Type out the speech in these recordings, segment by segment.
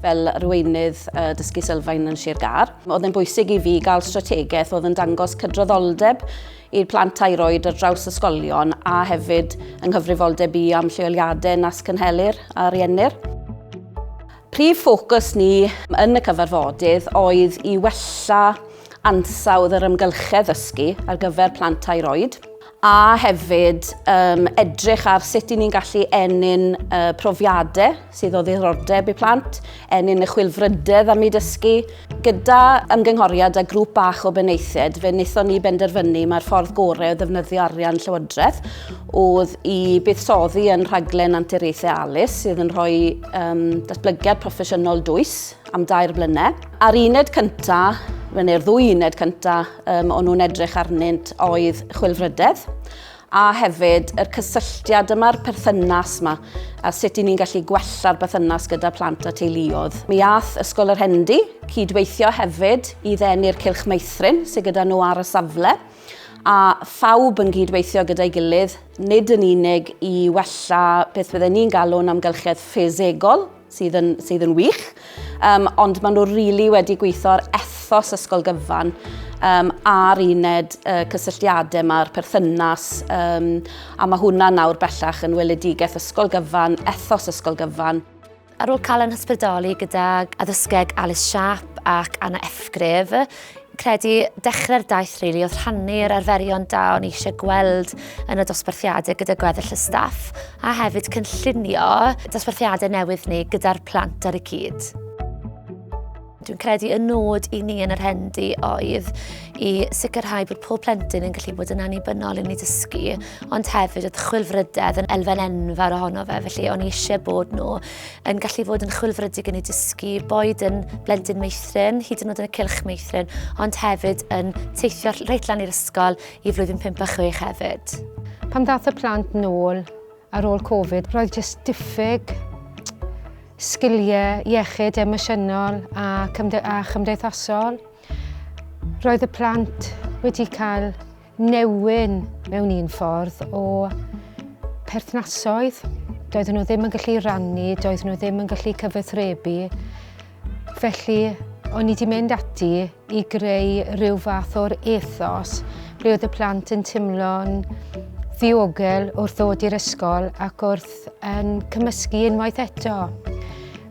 Fel arweinydd Dysgu Sylfaen yn Sir Gâr, oedd yn bwysig i fi gael strategaeth oedd yn dangos cydraddoldeb i'r plant tair oed ar draws ysgolion a hefyd yng nghyfrifoldeb i am lleoliadau nas cynhelir a riennir. Prif ffocws ni yn y cyfarfodydd oedd i wella ansawdd yr amgylchedd ddysgu ar gyfer plant tair oed, a hefyd um, edrych ar sut i ni'n gallu ennyn uh, profiadau sydd o ddiddordeb i plant, ennyn y chwilfrydedd am i dysgu. Gyda ymgynghoriad a grŵp bach o benaethiaid, fe wnaethon ni benderfynu mae'r ffordd gorau o ddefnyddio arian llywodraeth oedd i buddsoddi yn rhaglen anturiaethau ALIS sydd yn rhoi um, datblygiad proffesiynol dwys am dair blynedd. A'r uned cyntaf, neu'r ddwy uned cyntaf, um, o'n nhw'n edrych arnynt oedd chwilfrydedd a hefyd yr cysylltiad yma'r perthynas yma a sut i ni'n gallu gwella'r bythynas gyda plant a teuluodd. Mi ath Ysgol yr Hendi cydweithio hefyd i ddenu'r Cylch Meithrin sydd gyda nhw ar y safle a phawb yn gydweithio gyda'i gilydd, nid yn unig i wella beth bydden ni'n galw'n amgylchedd ffisegol, sydd yn, sydd yn wych, um, ond maen nhw rili really wedi gweithio'r ethos ysgol gyfan um, a'r uned uh, cysylltiadau mae'r perthynas um, a mae hwnna nawr bellach yn weledigaeth ysgol gyfan, ethos ysgol gyfan. Ar ôl cael yn hysbrydoli gyda addysgeg Alice Sharp ac Anna Efgrif, credu dechrau'r daith rili oedd rhannu'r arferion da o'n i eisiau gweld yn y dosbarthiadau gyda gweddill y staff a hefyd cynllunio dosbarthiadau newydd ni gyda'r plant ar y cyd. Dwi'n credu y nod i ni yn yr hendi oedd i sicrhau bod pob plentyn yn gallu bod yn annibynnol yn ei dysgu, ond hefyd oedd chwilfrydedd yn elfen enfawr ohono fe, felly o'n i eisiau bod nhw yn gallu fod yn chwilfrydig yn ei dysgu, boed yn blendyn meithrin, hyd yn oed yn y cylch meithrin, ond hefyd yn teithio reit lan i'r ysgol i flwyddyn 5 a 6 hefyd. Pan ddath y plant nôl ar ôl Covid, roedd jyst diffyg sgiliau iechyd emosiynol a, cymde a chymdeithasol. Roedd y plant wedi cael newyn mewn un ffordd o perthnasoedd. Doedden nhw ddim yn gallu rannu, doedden nhw ddim yn gallu cyfathrebu. Felly, o'n i wedi mynd ati i greu rhyw fath o'r ethos ble oedd y plant yn teimlo'n ddiogel wrth ddod i'r ysgol ac wrth yn cymysgu unwaith eto.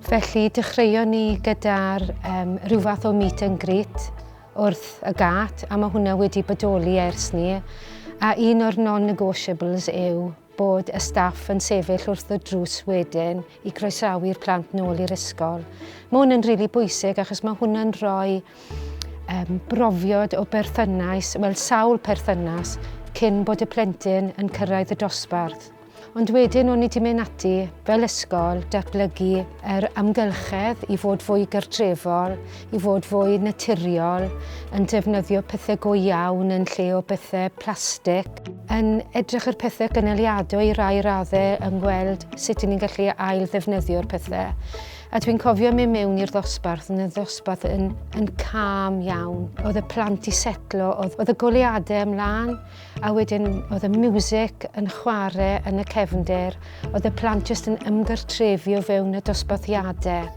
Felly dechreuon ni gyda'r um, rhyw fath o meet and greet wrth y gât, a mae hwnna wedi bodoli ers ni, a un o'r non-negotiables yw bod y staff yn sefyll wrth y drws wedyn i croesawu'r plant nôl i'r ysgol. Mae hwn yn rili really bwysig achos mae hwnna'n rhoi um, brofiad o berthynais, wel sawl perthynas, cyn bod y plentyn yn cyrraedd y dosbarth. Ond wedyn o'n i 'di mynd ati, fel ysgol, datblygu yr amgylchedd i fod fwy gartrefol, i fod fwy naturiol, yn defnyddio pethau go iawn yn lle o bethau plastig, yn edrych ar pethau gynaliadwy i rai raddau, yn gweld sut i ni'n gallu ail-ddefnyddio'r pethau. A dwi'n cofio mynd mewn i'r ddosbarth, yn y ddosbarth yn, yn calm iawn. Oedd y plant i setlo, oedd, oedd y goleadau ymlaen. A wedyn oedd y music yn chwarae yn y cefndir, oedd y plant jyst yn ymgartrefu o fewn y dosbarthiadau.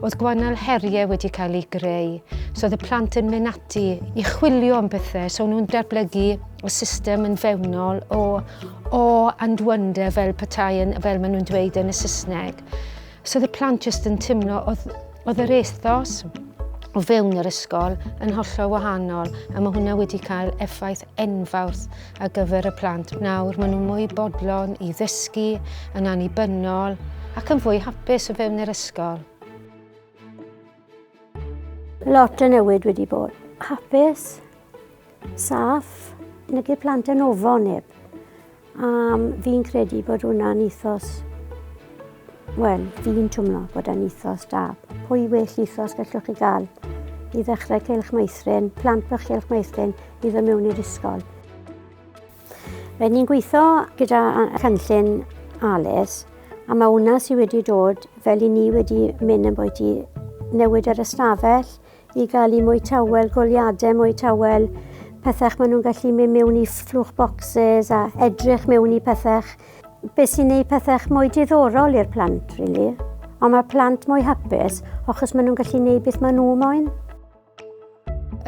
Oedd gwannol heriau wedi cael eu greu, so oedd y plant yn mynd ati i chwilio am bethau, so nhw'n datblygu y system yn fewnol o awe and wonder fel petai yn, fel maen nhw'n dweud yn y Saesneg. So oedd y plant jyst yn teimlo, oedd, oedd yr ethos o fewn yr ysgol yn hollol wahanol a mae hwnna wedi cael effaith enfawr ar gyfer y plant. Nawr maen nhw'n mwy bodlon i ddysgu yn annibynnol ac yn fwy hapus o fewn yr ysgol. Lot o newid wedi bod. Hapus, saff, nid y plant yn ofo neb. Um, fi'n credu bod hwnna'n ethos... Wel, fi'n twmlo bod yn ethos da. Pwy well ethos gallwch chi gael i ddechrau cael'ch meithrin, plant bych cael'ch meithrin i ddod mewn i'r ysgol. Fe ni'n gweithio gyda cynllun ALES a mae hwnna sydd wedi dod fel i ni wedi mynd yn bwy i newid yr ystafell, i gael i mwy tawel, goliadau mwy tawel, pethau maen nhw'n gallu mynd mewn i fflwch bocsys a edrych mewn i pethau. Be sy'n gwneud pethau mwy diddorol i'r plant, really. Ond mae plant mwy hapus achos maen nhw'n gallu gwneud beth maen nhw moyn.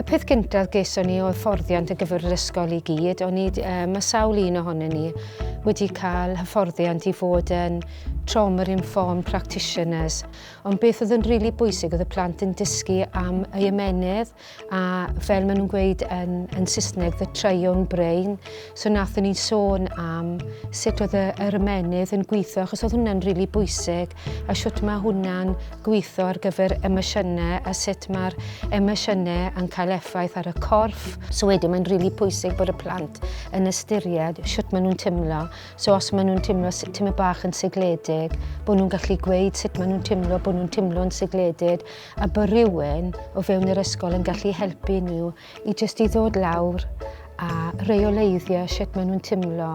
Y peth gyntaf geson ni oedd fforddiant y gyfer yr ysgol i gyd. O'n i, uh, mae sawl un ohonyn ni wedi cael hyfforddiant i fod yn trauma-informed practitioners. Ond beth oedd yn rili bwysig oedd y plant yn dysgu am y ymenydd a fel maen nhw'n gweud yn, yn Saesneg, the triune brain. So nathon ni sôn am sut oedd y, yr ymenydd yn gweithio achos oedd hwnna'n rili bwysig a sut mae hwnna'n gweithio ar gyfer emosiynau a sut mae'r emosiynau yn cael effaith ar y corff. So wedyn mae'n rili pwysig bod y plant yn ystyried sut maen nhw'n teimlo So os maen nhw'n teimlo sut tyma bach yn segledig, bod nhw'n gallu gweud sut maen nhw'n teimlo, bod nhw'n teimlo'n segledig, a bod rhywun o fewn yr ysgol yn gallu helpu nhw i jyst i ddod lawr a reoleiddio sut maen nhw'n teimlo.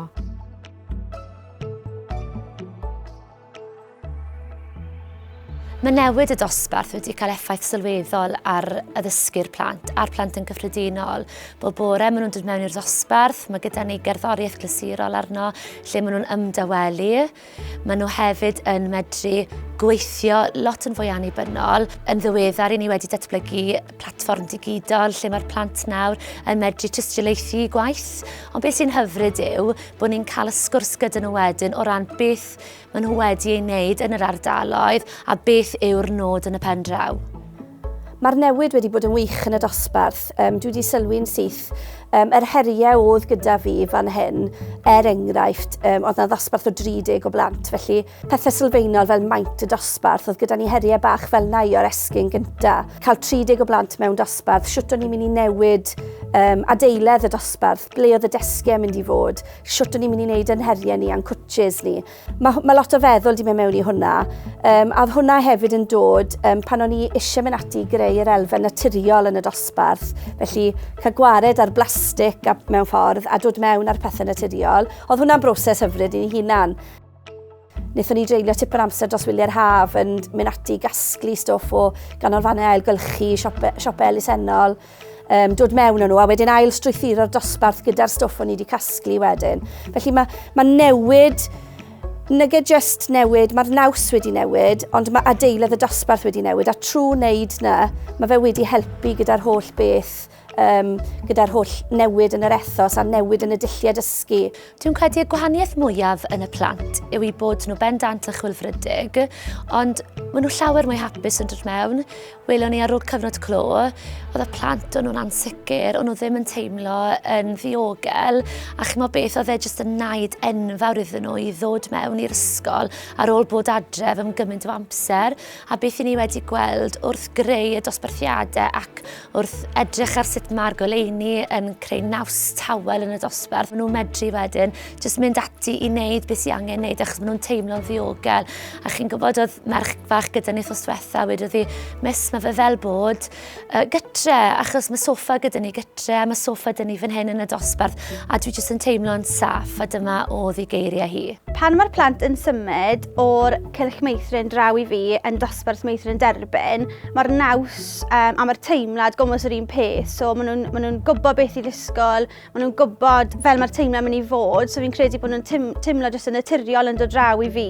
Mae newid y dosbarth wedi cael effaith sylweddol ar addysgu'r plant a'r plant yn gyffredinol. Bob bore maen nhw'n dod mewn i'r dosbarth, mae gyda ni gerddoriaeth glasurol arno lle maen nhw'n ymdawelu. Maen nhw hefyd yn medru gweithio lot yn fwy annibynnol. Yn ddiweddar i ni wedi datblygu platfform digidol lle mae'r plant nawr yn medru tystiolaethu gwaith. Ond beth sy'n hyfryd yw bod ni'n cael y sgwrs gyda nhw wedyn o ran beth gwaith maen nhw wedi ei wneud yn yr ardaloedd a beth yw'r nod yn y pen draw. Mae'r newid wedi bod yn wych yn y dosbarth. Um, dwi wedi sylwi'n syth um, yr heriau oedd gyda fi fan hyn, er enghraifft, um, oedd yna ddosbarth o 30 o blant, felly pethau sylfaenol fel maint y dosbarth, oedd gyda ni heriau bach fel na i o'r esgyn gynta. Cael 30 o blant mewn dosbarth, siwt o'n i'n mynd i newid um, adeiledd y dosbarth, ble oedd y desgiau mynd i fod, shwt o'n i'n mynd i wneud yn heriau ni a'n cwtches ni. Mae ma lot o feddwl di mynd mewn i hwnna. Um, a hwnna hefyd yn dod um, pan o'n i eisiau mynd ati i greu yr elfen naturiol yn y dosbarth. Felly cael gwared ar blastig mewn ffordd a dod mewn ar pethau naturiol. Oedd hwnna'n broses hyfryd i'n hunan. Wnaethon ni dreulio tipyn amser dros wyliau'r haf yn mynd ati i gasglu stoff o ganolfannau ailgylchu, siopau, siopau elusennol, um, dod mewn nhw a wedyn ail strwythuro'r dosbarth gyda'r stoff o'n i wedi casglu wedyn. Felly mae, mae newid Nage just newid, mae'r naws wedi newid, ond mae adeiledd y dosbarth wedi newid, a trwy wneud na, mae fe wedi helpu gyda'r holl beth um, gyda'r holl newid yn yr ethos a newid yn y dulliau dysgu. Dwi'n credu y gwahaniaeth mwyaf yn y plant yw i bod nhw bendant a chwilfrydig, ond maen nhw llawer mwy hapus yn dod mewn. Welon ni ar ôl cyfnod clo, oedd y plant o'n nhw'n ansicr, o'n nhw ddim yn teimlo yn ddiogel, a chymod beth oedd e jyst yn naid enfawr iddyn nhw i ddod mewn i'r ysgol ar ôl bod adref am gymaint o amser, a beth i ni wedi gweld wrth greu y dosbarthiadau ac Wrth edrych ar sut mae'r goleuni yn creu naws tawel yn y dosbarth, maen nhw'n medru wedyn jyst mynd ati i wneud beth sy'n angen wneud achos maen nhw'n teimlo'n ddiogel. A chi'n gwybod oedd merch fach gyda ni thos diwetha, wedi ddi, mis mae fe fel bod uh, gytre, achos mae sofa gyda ni gytre, mae sofa gyda ni fan hyn yn y dosbarth, a dwi jyst yn teimlo'n saff, a dyma o ddi geiriau hi. Pan mae'r plant yn symud o'r cylch meithrin draw i fi yn dosbarth meithrin derbyn, mae'r naws um, a mae'r teimlad gomos yr un peth. So maen nhw'n ma nhw gwybod beth i ddisgol, maen nhw'n gwybod fel mae'r teimlad mynd i fod. So fi'n credu bod nhw'n teim, teimlo jyst yn naturiol yn dod draw i fi.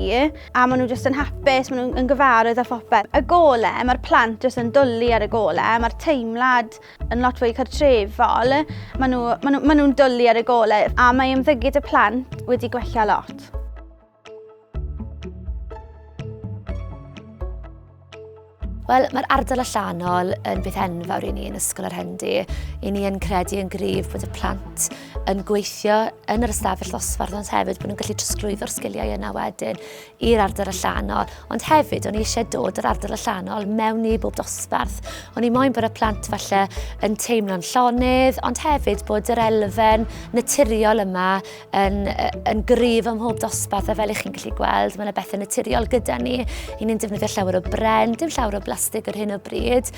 A maen nhw jyst yn hapus, maen nhw'n gyfarwydd â phopeth. Y gole, mae'r plant jyst yn dwlu ar y gole. Mae'r teimlad yn lot fwy cartrefol. Maen nhw'n nhw, ma nhw, ma nhw dwlu ar y gole. A mae ymddygyd y plant wedi gwella lot. Wel, mae'r ardal allanol yn beth enfawr i ni yn Ysgol yr Hendi. I ni yn credu yn gryf bod y plant yn gweithio yn yr ystafell ddosbarth, ond hefyd bod nhw'n gallu trosglwyddo'r sgiliau yna wedyn i'r ardal allanol. Ond hefyd, o'n i eisiau dod yr ardal allanol mewn i bob dosbarth. O'n i moyn bod y plant falle yn teimlo'n llonydd, ond hefyd bod yr elfen naturiol yma yn, yn gryf ym mhob dosbarth a fel ych chi'n gallu gweld mae yna bethau naturiol gyda ni i ni'n defnyddio llawer o bren, dim llawer o blastig ar hyn o bryd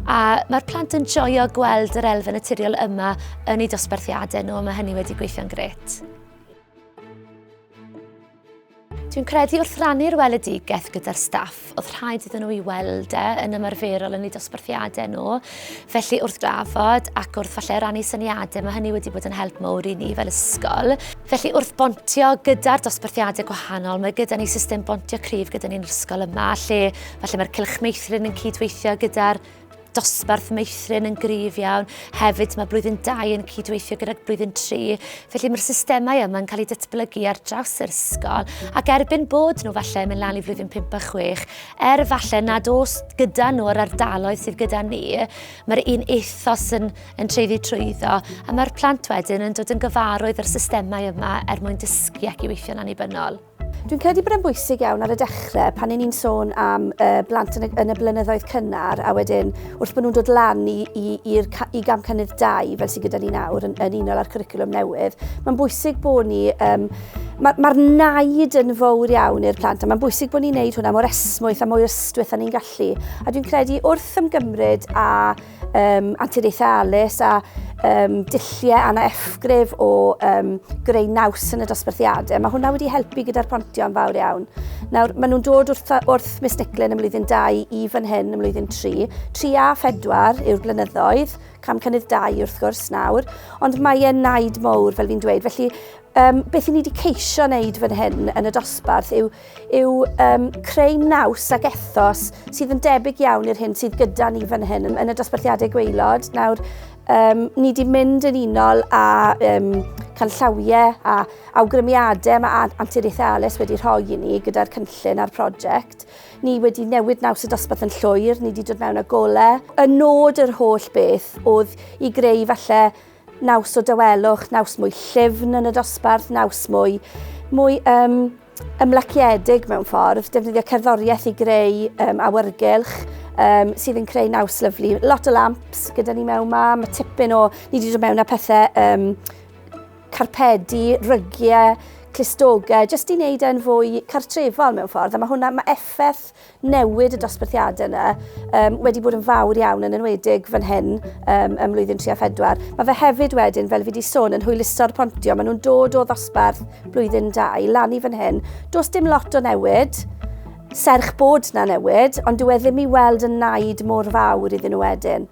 a mae'r plant yn joio gweld yr elfen naturiol yma yn eu dosbarthiadau nhw a mae hynny wedi gweithio'n gret. Dwi'n credu wrth rannu'r weledigaeth gyda'r staff, oedd rhaid iddyn nhw i weld e yn ymarferol yn eu dosbarthiadau nhw. Felly wrth drafod ac wrth falle rannu syniadau, mae hynny wedi bod yn help mawr i ni fel ysgol. Felly wrth bontio gyda'r dosbarthiadau gwahanol, mae gyda ni system bontio cryf gyda ni'n ysgol yma, lle falle mae'r cylch meithrin yn cydweithio gyda'r dosbarth meithrin yn gryf iawn. Hefyd mae blwyddyn 2 yn cydweithio gydag blwyddyn 3, felly mae'r systemau yma yn cael eu datblygu ar draws yr ysgol ac erbyn bod nhw falle yn mynd lan i flwyddyn 5 a 6, er falle nad os gyda nhw yr ardaloedd sydd gyda ni, mae'r un ethos yn, yn treiddi trwyddo a mae'r plant wedyn yn dod yn gyfarwydd â'r systemau yma er mwyn dysgu ac i weithio'n annibynnol. Dwi'n credu bod e'n bwysig iawn ar y dechrau pan ni'n sôn am uh, blant yn y, yn y blynyddoedd cynnar a wedyn wrth bod nhw'n dod lan i, i, i, i gam cynnydd 2 fel sydd gyda ni nawr yn, yn unol â'r cwricwlwm newydd. Mae'n bwysig bod ni... Um, Mae'r ma, ma naid yn fawr iawn i'r plant a mae'n bwysig bod ni'n neud hwnna mor esmwyth a mwy ystwyth a ni'n gallu. A dwi'n credu wrth ymgymryd a um, anturiaethau alus a um, dilliau anna effgrif o um, greu naws yn y dosbarthiadau. Mae hwnna wedi helpu gyda'r pontio'n fawr iawn. Nawr, maen nhw'n dod wrth, wrth Miss Nicklin ym mlwyddyn 2 i fan hyn ym mlwyddyn 3. 3 a 4 yw'r blynyddoedd, cam cynnydd 2 wrth gwrs nawr, ond mae e'n naid mowr fel fi'n dweud. Felly, um, beth i ni wedi ceisio wneud fan hyn yn y dosbarth yw yw um, creu naws ac ethos sydd yn debyg iawn i'r hyn sydd gyda ni fan hyn yn y dosbarthiadau gweilod. Nawr, um, ni wedi mynd yn unol a um, canllawiau a awgrymiadau mae Anturiaethau Ales wedi rhoi i ni gyda'r cynllun a'r prosiect. Ni wedi newid naws y dosbarth yn llwyr, ni wedi dod mewn â golau. Y nod yr holl beth oedd i greu falle Naws o dawelwch, naws mwy llyfn yn y dosbarth, naws mwy, mwy um, ymlaciedig mewn ffordd, defnyddio cerddoriaeth i greu um, awyrgylch, um, sydd yn creu naws lyflu. Lot o lamps gyda ni mewn ma, mae tipyn o, ni wedi dod mewn â pethau um, carpedi, rygiau, clustogau, jyst i wneud e'n fwy cartrefol mewn ffordd. A mae hwnna, mae effaith newid y dosbarthiadau yna um, wedi bod yn fawr iawn yn enwedig fan hyn um, ym mlwyddyn 3 a 4. Mae fe hefyd wedyn, fel fi wedi sôn, yn hwyluso'r pontio. Maen nhw'n dod o ddosbarth blwyddyn 2 lan i fan hyn. Does dim lot o newid, serch bod na newid, ond dyw e ddim i weld yn naid mor fawr iddyn nhw wedyn.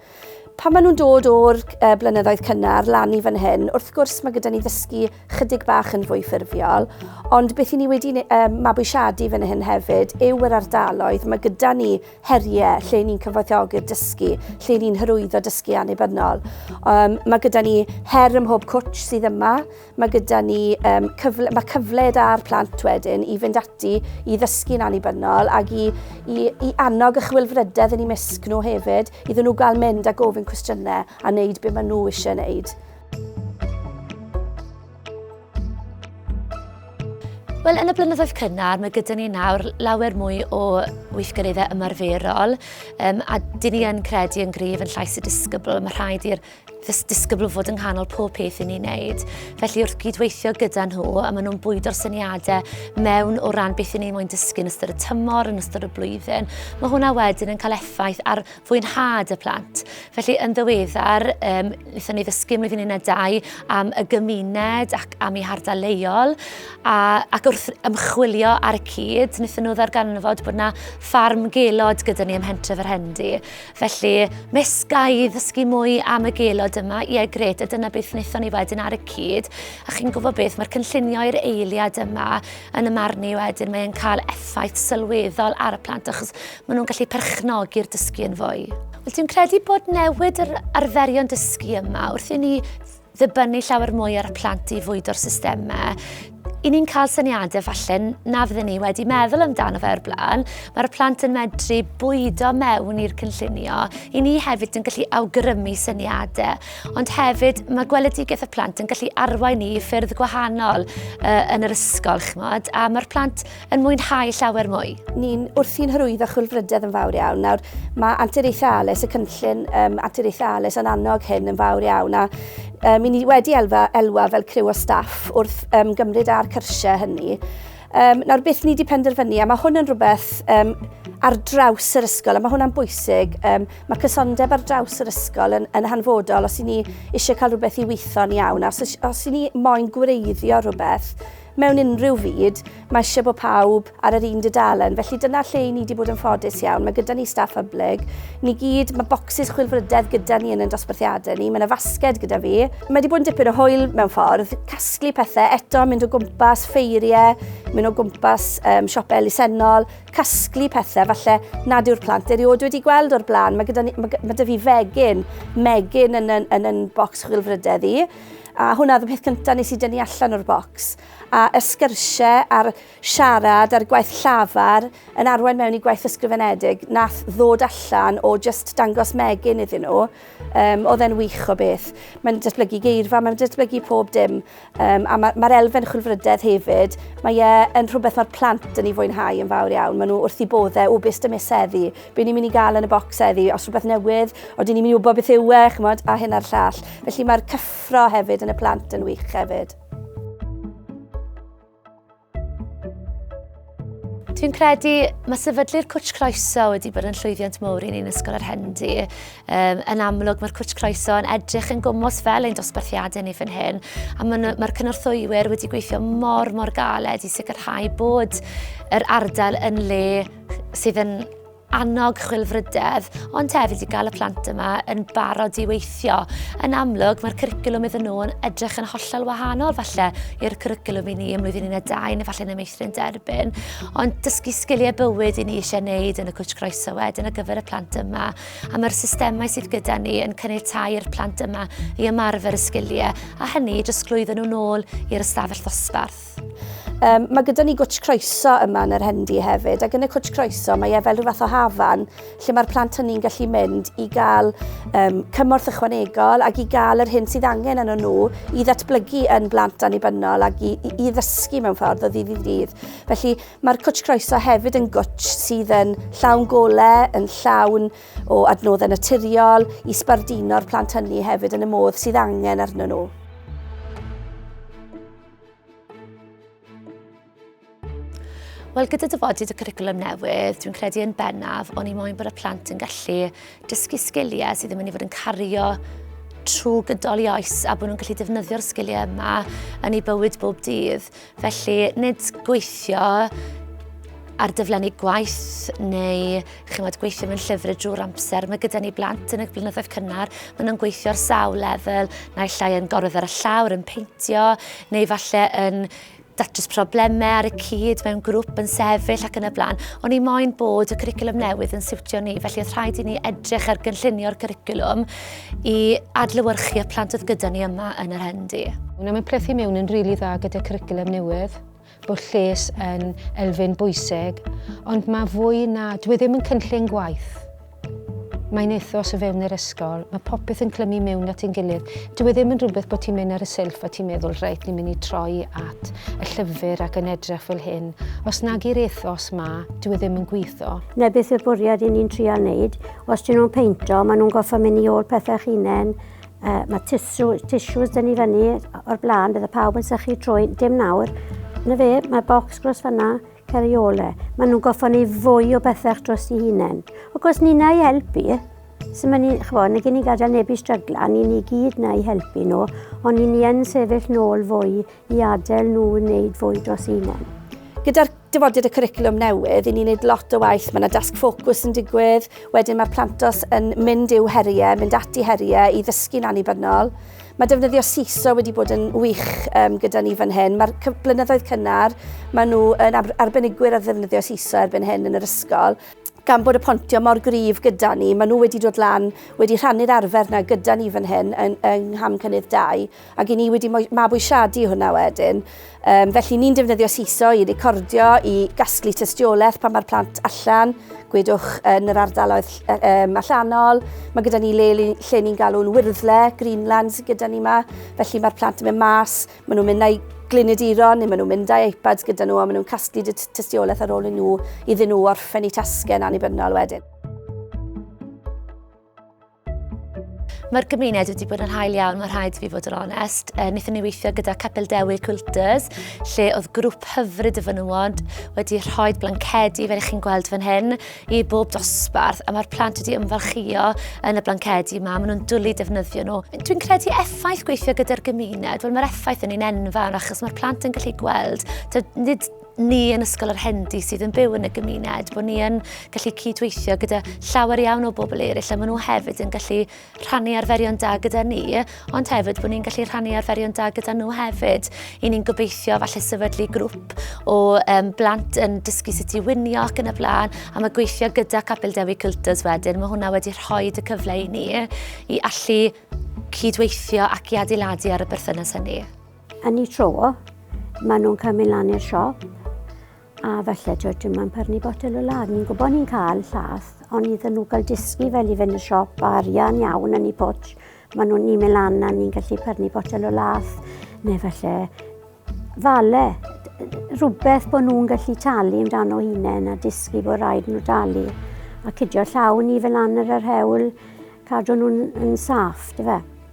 Pan maen nhw'n dod o'r uh, blynyddoedd cynnar lan i fan hyn, wrth gwrs mae gyda ni ddysgu chydig bach yn fwy ffurfiol, ond beth i ni wedi uh, mabwysiadu fan hyn hefyd yw yr ardaloedd. Mae gyda ni heriau lle ni'n cyfoethogi'r dysgu, lle ni'n hyrwyddo dysgu annibynnol. Um, mae gyda ni her ym mhob cwtch sydd yma, Mae gyda ni um, cyfle, mae cyfle da'r plant wedyn i fynd ati i ddysgu'n annibynnol ac i, i, i annog y chwilfrydedd yn ei misg nhw hefyd, iddyn nhw gael mynd a gofyn cwestiynau a wneud beth maen nhw eisiau wneud. Wel, yn y blynyddoedd cynnar, mae gyda ni nawr lawer mwy o weithgareddau ymarferol, um, a dyn ni yn credu yn gryf yn llais y disgybl, mae rhaid i'r Fes disgybl fod yng nghanol pob peth i ni'n neud. Felly wrth gydweithio gyda nhw, a maen nhw'n bwydo'r syniadau mewn o ran beth i ni'n moyn dysgu yn ystod y tymor, yn ystod y blwyddyn, mae hwnna wedyn yn cael effaith ar fwynhad y plant. Felly yn ddiweddar, um, wnaethon ni ddysgu ymlaen flwyddyn un dau am y gymuned ac am ei hardal leol, a, ac wrth ymchwilio ar y cyd, wnaethon nhw ddarganfod bod yna ffarm gelod gyda ni ym Hentref yr Hendy. Felly, mes ga i ddysgu mwy am y gelod yma, ie gred, a dyna beth wnaethon ni wedyn ar y cyd. A chi'n gwybod beth, mae'r cynllunio i'r eiliad yma yn y marn i wedyn, mae'n cael effaith sylweddol ar y plant achos maen nhw'n gallu perchnogi'r dysgu yn fwy. Wel, dwi'n credu bod newid yr arferion dysgu yma wrth i ni ddibynnu llawer mwy ar y plant i fwydo'r systemau, i ni'n cael syniadau falle na fydden ni wedi meddwl amdano fe o'r blaen. Mae'r plant yn medru bwydo mewn i'r cynllunio. I ni hefyd yn gallu awgrymu syniadau. Ond hefyd mae gweledigaeth y plant yn gallu arwain ni i ffyrdd gwahanol uh, yn yr ysgol, chmod. A mae'r plant yn mwynhau llawer mwy. Ni'n wrthi'n hyrwyddo chwilfrydedd yn fawr iawn. Nawr, mae anturiaethau ALES, y cynllun um, anturiaethau ALES yn annog hyn yn fawr iawn, a um, ni wedi elfa, elwa fel criw o staff wrth um, gymryd ar cyrsiau hynny. Um, nawr, beth ni wedi penderfynu, a mae hwn yn rhywbeth um, ar draws yr ysgol, a mae hwnna'n bwysig. Um, mae cysondeb ar draws yr ysgol yn, yn hanfodol os i ni eisiau cael rhywbeth i weithio'n iawn, a os, os i ni moyn gwreiddio rhywbeth, Mewn unrhyw fyd, mae eisiau bod pawb ar yr un dudalen, felly dyna lle i ni wedi bod yn ffodus iawn. Mae gyda ni staff hyblyg, ni gyd, mae bocsys chwilfrydedd gyda ni yn ein dosbarthiadau ni, mae yna fasged gyda fi. Mae wedi bod yn dipyn o hwyl mewn ffordd, casglu pethau, eto mynd o gwmpas ffeiriau, mynd o gwmpas um, siopau elusennol, casglu pethau falle nad yw'r plant erioed wedi gweld o'r blaen. Mae, gyda ni, mae, mae dy fi fegyn, megyn yn yn, yn, yn bocs chwilfrydedd i. A hwnna oedd y peth cyntaf nes i dynnu allan o'r bocs. A y sgyrsiau a'r siarad a'r gwaith llafar yn arwain mewn i gwaith ysgrifenedig nath ddod allan o just dangos megin iddyn nhw. Um, oedd e'n wych o beth. Mae'n datblygu geirfa, mae'n datblygu pob dim. Um, a mae'r ma, ma elfen chwilfrydedd hefyd, mae e yn rhywbeth mae'r plant yn ei fwynhau yn fawr iawn. Maen nhw wrth i boddau o bus dymeseddi. Be ni'n mynd i gael yn y bocs eddi, os rhywbeth newydd, o dyn ni'n mynd i wybod beth yw e, chymod, a hyn a'r llall. Felly mae'r cyffro hefyd yn y plant yn wych hefyd. Dwi'n credu mae sefydlu'r Cwtch Croeso wedi bod yn llwyddiant mowr i ni'n Ysgol yr Hendi. Um, yn amlwg mae'r Cwtch Croeso yn edrych yn gwmwys fel ein dosbarthiadau ni fan hyn. A mae'r mae cynorthwywyr wedi gweithio mor mor galed i sicrhau bod yr ardal yn le sydd yn annog chwilfrydedd, ond hefyd i gael y plant yma yn barod i weithio. Yn amlwg, mae'r cwricwlwm iddyn nhw yn edrych yn hollol wahanol falle i'r cwricwlwm i ni ym mlwyddyn 12 neu falle yn y meithrin derbyn. Ond dysgu sgiliau bywyd i ni eisiau wneud yn y cwtch groeso wedyn ar gyfer y plant yma. A mae'r systemau sydd gyda ni yn caniatau i'r plant yma i ymarfer y sgiliau, a hynny i drosglwyddo nhw'n ôl i'r ystafell ddosbarth. Mae gyda ni gwtsh croeso yma yn yr Hendy hefyd, ac yn y cwtsh croeso mae e fel rhyw fath o hafan lle mae'r plant hynny'n gallu mynd i gael um, cymorth ychwanegol ac i gael yr hyn sydd angen yn nhw i ddatblygu yn blant annibynnol ac i, i, i ddysgu mewn ffordd o ddydd i ddydd. Felly mae'r cwtsh croeso hefyd yn gwtsh sydd yn llawn golau, yn llawn o adnoddau naturiol i sbarduno'r plant hynny hefyd yn y modd sydd angen arnyn nhw. Wel, gyda dyfodiad y curriculum newydd, dwi'n credu yn bennaf, ond i moyn bod y plant yn gallu dysgu sgiliau sydd ddim yn ei fod yn cario trwy gydol i oes a bod nhw'n gallu defnyddio'r sgiliau yma yn ei bywyd bob dydd. Felly, nid gweithio ar dyflenni gwaith neu chymod, gweithio mewn llyfr y drwy'r amser. Mae gyda ni blant yn y blynyddoedd cynnar, maen nhw'n gweithio ar sawl lefel, naill ai yn gorwedd ar y llawr, yn peintio, neu falle yn datrys problemau ar y cyd mewn grŵp yn sefyll ac yn y blaen. O'n i moyn bod y cwricwlwm newydd yn siwtio ni, felly oedd rhaid i ni edrych ar gynllunio'r cwricwlwm i adlywyrchu y plant oedd gyda ni yma yn yr hendi. Wna mae'n plethu mewn yn rili really dda gyda cwricwlwm newydd. bod lles yn elfen bwysig, ond mae fwy na... Dwi e ddim yn cynllun gwaith. Mae'n ethos o fewn yr ysgol, mae popeth yn clymu mewn at ein gilydd. Dwi e ddim yn rhywbeth bod ti'n mynd ar y silff a ti'n meddwl, reit, ni'n mynd i troi at y llyfr ac yn edrych fel hyn. Os nag i'r ethos ma, dwi e ddim yn gweithio. Na beth yw'r bwriad i ni'n trial wneud. Os dyn nhw'n peinto, maen nhw'n goffa mynd i ôl pethau chinen, Uh, mae tissues, tissues dyn ni fyny o'r blaen, bydd y pawb yn sychu trwy, dim nawr. Na fe, mae bocs gros fyna, ceriole. Mae nhw'n goffa ni fwy o bethau dros i hunain. O gwrs, ni na i helpu, sy'n mynd i, chfo, na gen i gadael neb i strygla, ni ni gyd na i helpu nhw, ond ni ni yn sefyll nôl fwy i adael nhw wneud fwy dros hunain. Gyda'r dyfodiad y cwricwlwm newydd, i ni'n gwneud lot o waith, mae yna dasg ffocws yn digwydd, wedyn mae'r plantos yn mynd i'w heriau, mynd ati heriau i ddysgu'n annibynnol. Mae defnyddio SISO wedi bod yn wych um, gyda ni fan hyn. Mae'r blynyddoedd cynnar, maen nhw yn arbenigwyr ar ddefnyddio SISO erbyn hyn yn yr ysgol gan bod y pontio mor gryf gyda ni, maen nhw wedi dod lan, wedi rhannu'r arfer na gyda ni fan hyn yng, yng Ngham Cynnydd 2. Ac 'y ni wedi mabwysiadu hwnna wedyn. Yym, felly ni'n defnyddio Seesaw i recordio, i gasglu tystiolaeth pan mae'r plant allan, gwedwch yn yr ardaloedd um, allanol. Mae gyda ni le lle ni'n galw'n wirddle, Greenlands gyda ni yma. Felly mae'r plant yn mynd mas, maen nhw'n mynd â'i gliniduron neu maen nhw'n mynd â iPads gyda nhw a maen nhw'n casglu tystiolaeth ar ôl i nhw iddyn nhw orffen eu tasgau yn annibynnol wedyn. Mae'r gymuned wedi bod yn hael iawn, mae rhaid fi fod yn onest. E, Nethon ni weithio gyda Capel Dewi Quilters, lle oedd grŵp hyfryd y fynywod wedi rhoi blancedi, fel ych chi'n gweld fan hyn, i bob dosbarth, a mae'r plant wedi ymfalchio yn y blancedi yma, maen nhw'n dwlu defnyddio nhw. Dwi'n credu effaith gweithio gyda'r gymuned, wel mae'r effaith yn un enfawr, achos mae'r plant yn gallu gweld, nid ni yn Ysgol yr Hendi sydd yn byw yn y gymuned, bod ni yn gallu cydweithio gyda llawer iawn o bobl eraill a maen nhw hefyd yn gallu rhannu arferion da gyda ni, ond hefyd bod ni'n gallu rhannu arferion da gyda nhw hefyd. I ni'n gobeithio falle sefydlu grŵp o um, blant yn dysgu sut i winio ac yn y blaen, a mae gweithio gyda Capel Dewi Culters wedyn, mae hwnna wedi rhoi y cyfle i ni i allu cydweithio ac i adeiladu ar y berthynas hynny. Yn y tro, maen nhw'n cael mynd lan i'r siop a falle ti'n dwi ma'n pyrnu botel o ladd. Ni'n gwybod ni'n cael llath, ond iddyn nhw gael disgu fel i fynd y siop a arian iawn yn ei pwtsh, maen nhw'n ni'n mynd lan a ni'n gallu pyrnu botel o lath, neu falle fale, rhywbeth bod nhw'n gallu talu amdano hunain a disgu bod rhaid nhw dalu. A cydio llaw ni fel lan yr hewl, cadw nhw'n saff, dy fe.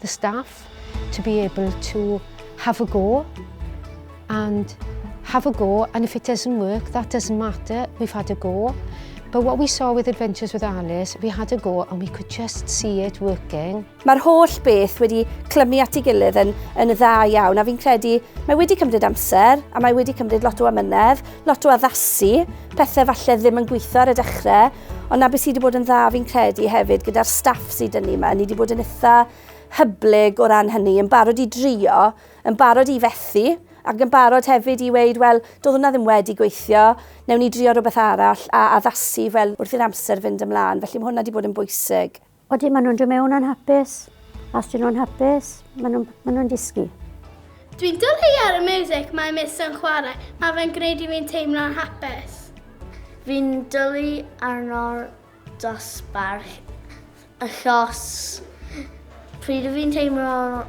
the staff to be able to have a go and have a go and if it doesn't work that doesn't matter we've had a go but what we saw with Adventures with Alice we had a go and we could just see it working. Mae'r holl beth wedi clymu at ei gilydd yn, yn dda iawn a fi'n credu mae wedi cymryd amser a mae wedi cymryd lot o amynedd, lot o addasu, pethau falle ddim yn gweithio ar y dechrau Ond na beth sydd wedi bod yn dda fi'n credu hefyd gyda'r staff sydd dyn ni yma, ni wedi bod yn eitha hyblyg o ran hynny, yn barod i drio, yn barod i fethu, ac yn barod hefyd i weud, wel, doedd hwnna ddim wedi gweithio, newn ni drio rhywbeth arall a addasu fel wrth i'r amser fynd ymlaen, felly mae hwnna wedi bod yn bwysig. Odi, maen nhw'n dod mewn anhapus. A os dyn nhw'n hapus, maen nhw'n ma nhw disgu. Dwi'n dyllu ar y music mae mis yn chwarae. Mae fe'n gwneud i fi'n teimlo'n hapus. Fi'n dyllu arno'r dosbarth achos pryd fi'n teimlo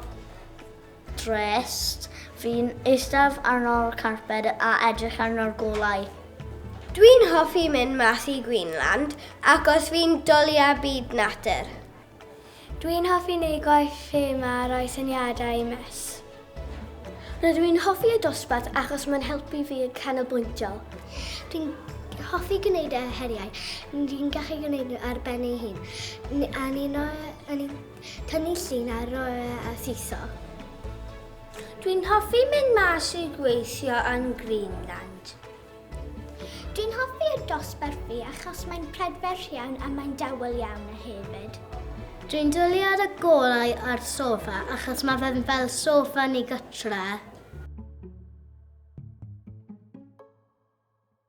Drist. Fi'n eistedd arno'r carped a edrych arno'r golau. Dwi'n hoffi mynd mas i Greenland achos fi'n dwlia byd natur. Dwi'n hoffi neud gwaith ffeim a roi syniadau i Miss. Rydw i'n hoffi y dosbarth achos mae'n helpu fi yn canolbwyntio. Dwi'n hoffi gwneud y heriau. Dwi'n gallu gwneud nhw ar ben ei hun. A ni'n Cynllun ar roe a thitho. Dwi'n hoffi mynd mas i gweithio yn Greenland. Dwi'n hoffi y dosbarthu achos mae'n prydferth iawn a mae'n dawel iawn a hefyd. Dwi'n dwlu ar y golau a'r sofa achos mae fe'n fel sofa ni gytre.